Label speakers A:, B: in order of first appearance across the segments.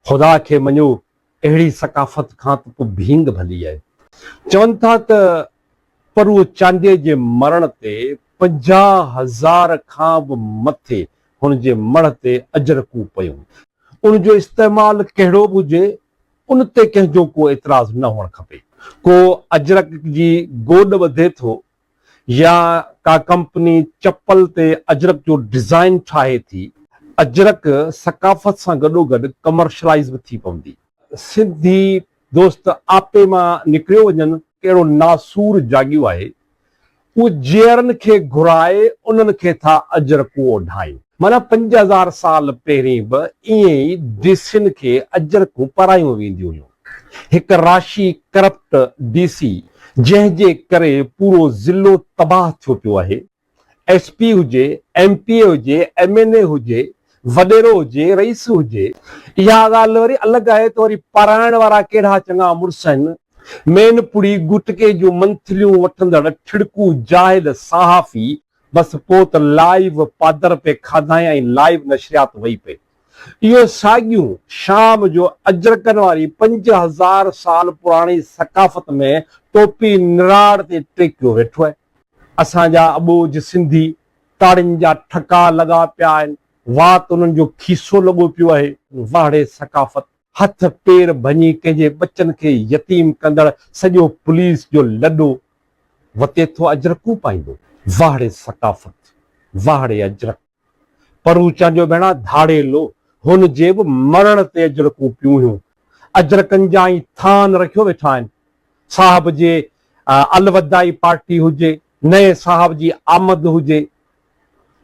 A: خدا کي مڃو، اهڙي ثقافت کان ته ڪو ڀينگ ڀلي آهي. چون ٿا ته پروء چانڊيي جي مرڻ تي پنجاهه هزار کان به مٿي هن جي مڙهه تي اجرڪون پيون. ان جو استعمال ڪهڙو به هجي، ان تي ڪنهن جو ڪو اعتراض نه هئڻ کپي. ڪو اجرڪ جي گوڏ ٻڌي ٿو يا ڪا ڪمپني چپل تي اجرڪ جو ڊزائين ٺاهي ٿي، اجرڪ ثقافت سان گڏوگڏ ڪمرشلائيز به ٿي پوندي. سنڌي دوست آپي مان نڪريو وڃن. ڪهڙو ناسور جاڳيو آهي. اهي جيئرن کي گهرائي انهن کي ٿا اجرڪون اوڍائين. معنيٰ پنج هزار سال پهرين به ائين ئي ديسين کي اجرڪون پرايون وينديون هيون. هڪ راشي ڪرپٽ ڊي سي جنهن جي ڪري پورو ضلعو تباهه ٿيو پيو آهي ايس پي هجي ايم پي اي هجي ايم اين اي هجي وڏيرو هجي رئيس هجي اها ڳالهه وري الڳ آهي ته وري پرائڻ وارا ڪهڙا چڱا مڙس آهن مين پڙي گٽڪي جون منٿليون وٺندڙ ٺڙڪو جاهل صحافي بس پوء ته لائيو پادر پئي کاڌائين ۽ لائيو نشريات وئي پئي. اهي ساڳيون شام جو اجرڪن واري پنج هزار سال پراڻي ثقافت ۾ ٽوپي نراڙ تي ٽيڪيو ويٺو آهي. اسان جا اٻوجهه سنڌي تاڙين جا ٺڪا لڳا پيا آهن، وات انهن جو کيسو لڳو پيو آهي. واهڙي ثقافت، هٿ پير ڀڃي ڪنهن جي ٻچن کي يتيم ڪندڙ سڄو پوليس جو لڏو وتي ٿو اجرڪون پائيندو. واهڙي ثقافت، واهڙي اجرڪ. پر هو چانڊيو ڀيڻا ڌاڙيلو، هن جي به مرڻ تي اجرڪون پيوهيون، اجرڪن جا ئي ٿان رکيو ويٺا آهن. صاحب جي الوداعي پارٽي هجي، نئين صاحب جي آمد هجي،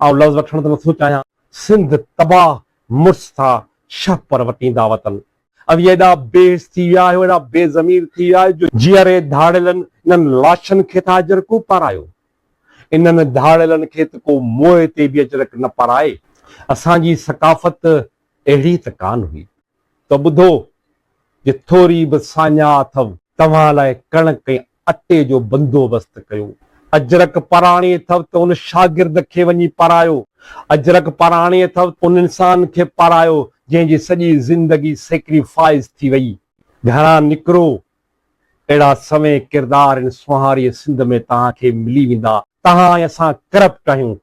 A: آئون لفظ وٺڻ ته نٿو چاهيان. سنڌ تباهه مڙس ٿا شهپر وٽيندا وتن. اوهين ايڏا بيحس ٿي ويا آهيو، ايڏا بي ضمير ٿي ويا آهيو جو جيئري ڌاڙيلن انهن لاشن کي ٿا اجرڪون پارايو. انهن ڌاڙيلن کي ته ڪو موئي تي به اجرڪ نه پرائي. اسان جي ثقافت اهڙي ته ڪانه هئي. ته ٻڌو، جي ٿوري به ساڃاهه اٿئو. توهان لاء ڪڻڪ ۽ اٽي جو بندوبست ڪيو. اجرڪ پراڻي اٿئو ته ان شاگرد کي وڃي پرايو. اجرڪ پراڻي اٿئو ته ان انسان کي پرايو، جنهن جي سڄي زندگي سيڪريفائز ٿي وئي. گهران نڪرو اهڙا سوين ڪردار هن سونهاريء سنڌ ۾ توهان کي ملي ويندا. توهان ۽ اسان ڪرپٽ آهيون.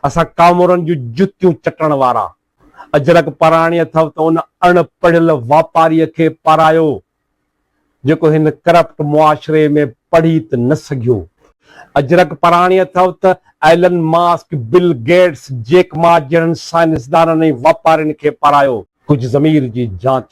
A: اسان ڪامورن جون جتيون چٽڻ وارا. اجرڪ پراڻي اٿئو ته ان اڻ پڙهيل واپاريء کي پارايو، جيڪو هن ڪرپٽ معاشري ۾ پڙهي ته نه سگهيو. اجرڪ پراڻي اٿئو ته Elon Musk, Bill Gates, Jack Ma جهڙن سائنسدانن ۽ واپارين کي پارايو. ڪجهه ضمير جي جانچ